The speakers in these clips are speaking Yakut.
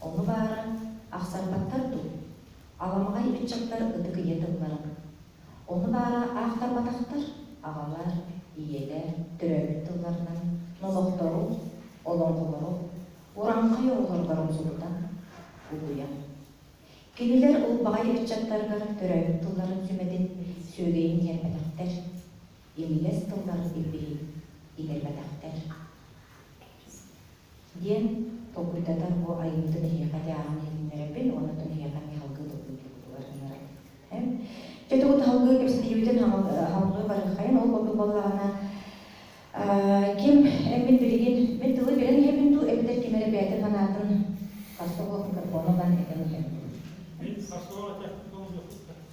Ону баара, ахсарбаттар дуу? Аламаҕай ыччаттар ытык ийэ тыллара. Ону баара аахтарбатахтар, аҕалар, ийэлэр төрөөбүт тылларынан номохтору, олоҥхолору ураҥхай оҕолор боромсугутан угуйан, кинилэр ылбаҕай ыччаттаргар төрөөбүт тылларын сүмэтин сүөгэйин тиэрпэтэхтэр, имигэс тыллар ирбиһин игэрбэтэхтэр. диэн толкуйдатан бу айымньыны киһиэхэ дьааһын иһитиннэрэрбин уонна оттон киһиэхэ миэхалгыы тылбыытыйбытыгар ыҥырабын дьэ тугу таһылгыы кэпсэтиибитин хабыллыы барыаххайын ол курдук буоллаҕына ким эммин билигин мин тылы билэн иһэбин дуу эбэтэр ким эрэ бэйэтин санаатын харса суох микрофону ылан этэн иһэбин дуу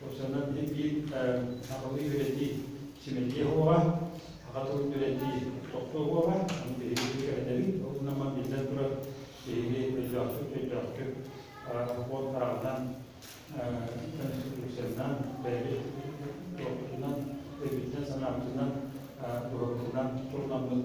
Курсанан тиргии, сахалыы үөрэтии, симэтиэ оһоҕа, аҕа тылын үөрэтии, тохтуо оһоҕа, аны биһиги кэрэтэбит. Ол гынан баран, биллэн турар, биһиги өйдөөхтүк-өйдөөхтүк олохпут ааҕынан, конституциянан, бэйэбит туохпутунан, өйбүтүнэн-санаабытынан, быһыыбытынан турунаммыт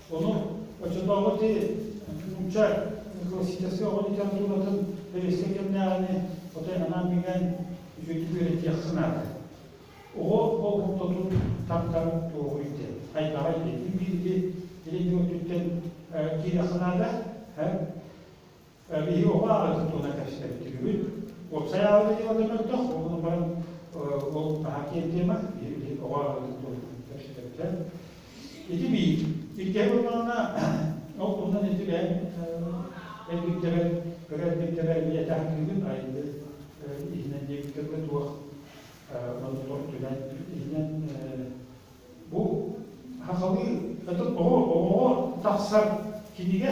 Ону оччотооҕу нуучча классическай оҕо литературатын бэрэстэбиитэллээҕини отой анаан билэн үчүгэйдик үөрэтиэххэ наада. Оҕо болҕомтотун тардар туоҕу ирдэ. Хайдаҕа идэтин бииргэ илин өттүттэн киирэххэ наада. биһи оҕо аҕа туттуона кэпсэттибит. Уопсай аҕабыт идеалга көрдөх, ол баран ол наһаа тиэрдиэмэ, биһи оҕо аҕа туттуона кэпсэттэ. Ити биир. Иккиһэ буоллаҕына, ол туһунан ити бэйэм өйбүрдэбэр, кыра өйбүрдэбэр ийэтэ хатыыбын айды иһинэн диэбиттэргэ туох монотор түмэн иһинэн бу сахалыы оҕоҕо тахсар кинигэ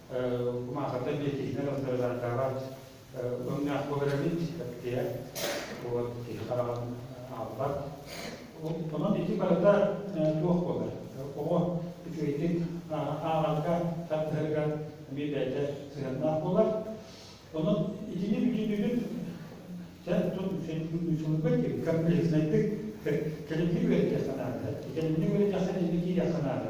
Маахата биэтиһинэр алтарылаатаҕа өҥнөөх буоларабын эптиэ вот киһи хараҕын аалбат онон ити барыта туох буолар оҕо үчүгэйдик ааҕарга тардыһарга эмиэ бэйэтэ сыһыаннаах буолар онон итини бүтүнүгүн сунуга диэн комплекснайдык кэлимни үөрэтэххэ наада кэлимни үөрэтэххэ эмиэ киириэххэ наада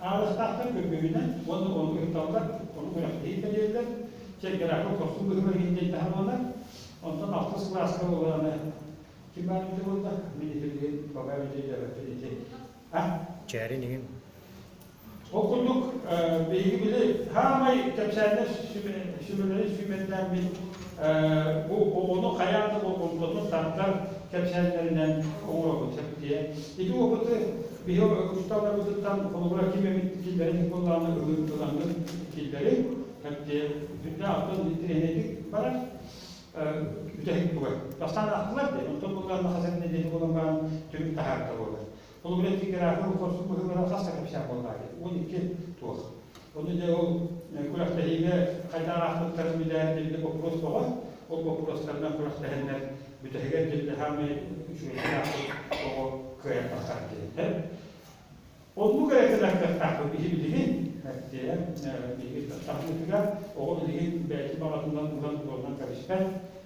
Аарыстаахтар көрбүбүнэн уонна ону ыһыкталлар, ону күрэхтэһии тэрийэллэр. Чэркэрээккэ хорсун быһыылаах иһин таһымалар. Онтон алтыс кылааска ыланы ким баар эбитэ буолла? Медицин бабай медиадэрэтин ити. Чээрин иһин. Ол курдук, биһиги били саамай кэпсээннэр сүмэлэрин сүүмэрдээммит Бу оҕону хайаан да болҕомтотун тардар кэпсээннэринэн оҥоробут сөп диэн. Ити уопуты биһи учууталларбытыттан холобура ким эбит киллэрин буоллаҕына ылыҥ киллэрин кэпсиэ бүтүннээн оттон тирэһинэйдик баран бүтэһик бугай. Бастаан аахтылар диэн, оттон буллар махасен нэдиэлэ буолан баран түрүк таһаарда буолар. Ол билэн тиграфон хорсун быһыылара хас эрэ кэпсээн буолбаа диэн. Уон икки туох. Ону дьэ ол күрэхтэһиигэ хайдах аахпыттарын билээт билинэ боппуруос тоҕо, ол боппуруостарынан күрэхтэһэннэр бүтэһигэр дьыллаһаамай үчүгэйдик аахпыт оҕо кыайан тахсар диэниттэн. Оннук эрэ кэлэр кыахтаахпыт биһи билигин эттиэ биһиги таптаһыытыгар оҕо билигин бэйэтин баҕатынан булан буолан кэбиспэт